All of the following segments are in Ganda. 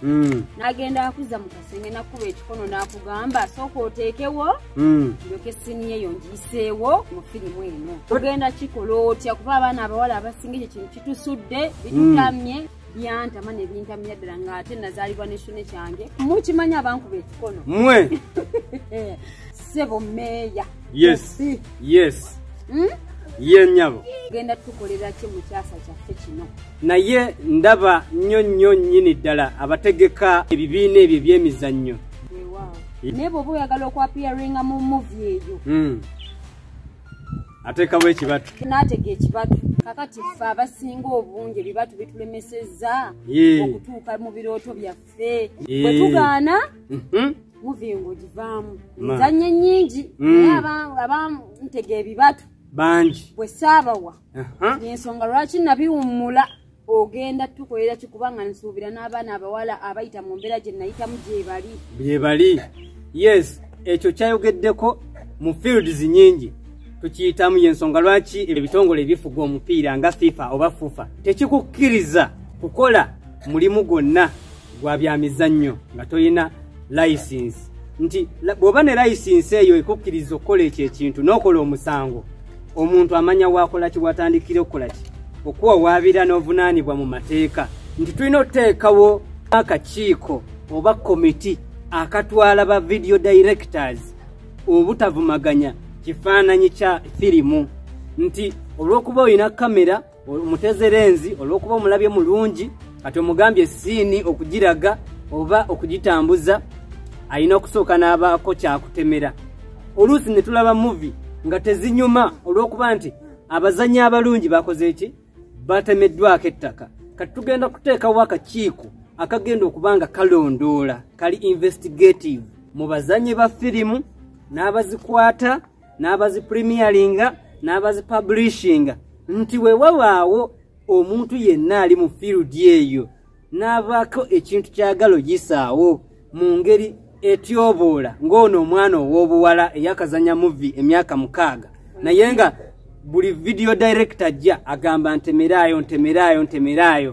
hmm. nagenda akuza mu kasenge nakuba ekikono nakugamba sooka oteekewo hmm. ndyoke siniya eyo ngiyiseewo mu firimu eno ogenda kikola otya kuba abaana abawala abasinga ekyo kintu kitusudde bitutamye hmm. byantama nebintamya ddala nga ate nazaalibwa nekitone kyange mukimanya abankuba ekikono mwe eh, sebo meeya yes yes hmm? ye nyabo genda tukolera ki mu kyasa kyaffe kino naye ndaba nnyo nnyo nnyini ddala abategeka ebibiina ebyo ebyemizannyo naye bwoba oyagala okwapiyaringa mu muvi eyo hmm. ateekawo ekibatu naatega ekibatu kakati ffe abasinga obungi ebibatu bitulemesezza okutuuka mu birooto byaffe Eh, Eh. bwe tugaana Mhm. muvinga ogivaamu Ma. nzanye nyingi Mm. naye aba- abantega ebibatu bangi bwe saabawa Aha. yensonga lwaki nabiwummula ogenda tukolera kikubanga nsuubira n'abaana abawala abayita mu mbeera gye nayitamu gyebali byebali yes ekyo kyayogeddeko mu fields nyingi tukiyitamu yensonga lwaki ebitongole ebifuga omupiira nga fifa oba fufa tekikukkiriza kukola mulimu gwonna gwa bya mizannyo nga tolina layisinsi nti bw'oba ne layisinsi eyo ekukkiriza okukola ekyo ekintu n'okola omusango omuntu amanya waakola ki watandikira okukola ki okuwawaabira n'ovunaanibwa mu mateeka nti tulina okuteekawo akakiiko oba komiti akatwala ba video directors obutavumaganya kifaananyi kya firimu nti olw'okuba olina kamera omutezerenzi olwokuba omulabye mulungi kati omugambye siini okugiraga oba okugitambuza alina okusooka n'abaako kyakutemera oluusi ne tulaba muvi nga tezinyuma olw'okuba nti abazanyi abalungi bakoze eki batemeddwako ettaka kati tugenda kuteekawo akakiiko akagenda okuba nga kalondoola kali investigative mu bazanyi ba firimu n'abazikwata n'abazi premieringa n'abazi publishinga nti we wabaawo omuntu yenna ali mu field eyo n'abaako ekintu kyagala oyisaawo mu ngeri etyoboola ng'ono omwana ow'obuwala eyakazanya muvi emyaka mukaaga naye nga buli vidiyo director ajja agamba ntemeraayo ntemeraayo ntemeraayo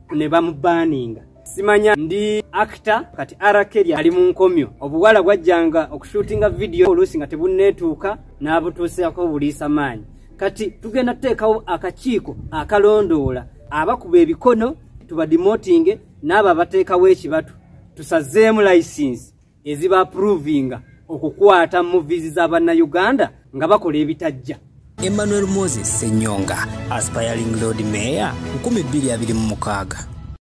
ne bamubaninga simanya ndi actor kati arakeri ali mu nkomyo obuwala bwajjanga okushootinga vidiyo oluusi nga tebunneetuuka n'abutuuseako obuliisa maanyi kati tugenda tuteekawo akakiiko akalondoola abakuba ebikono tubadimotinge n'abo abateekawo ekibatu tusazeemu layisinsi eziba approvinga okukwata muvizi za bannayuganda nga bakola ebitajja emmanuel moses senyonga aspiring lord mayor 226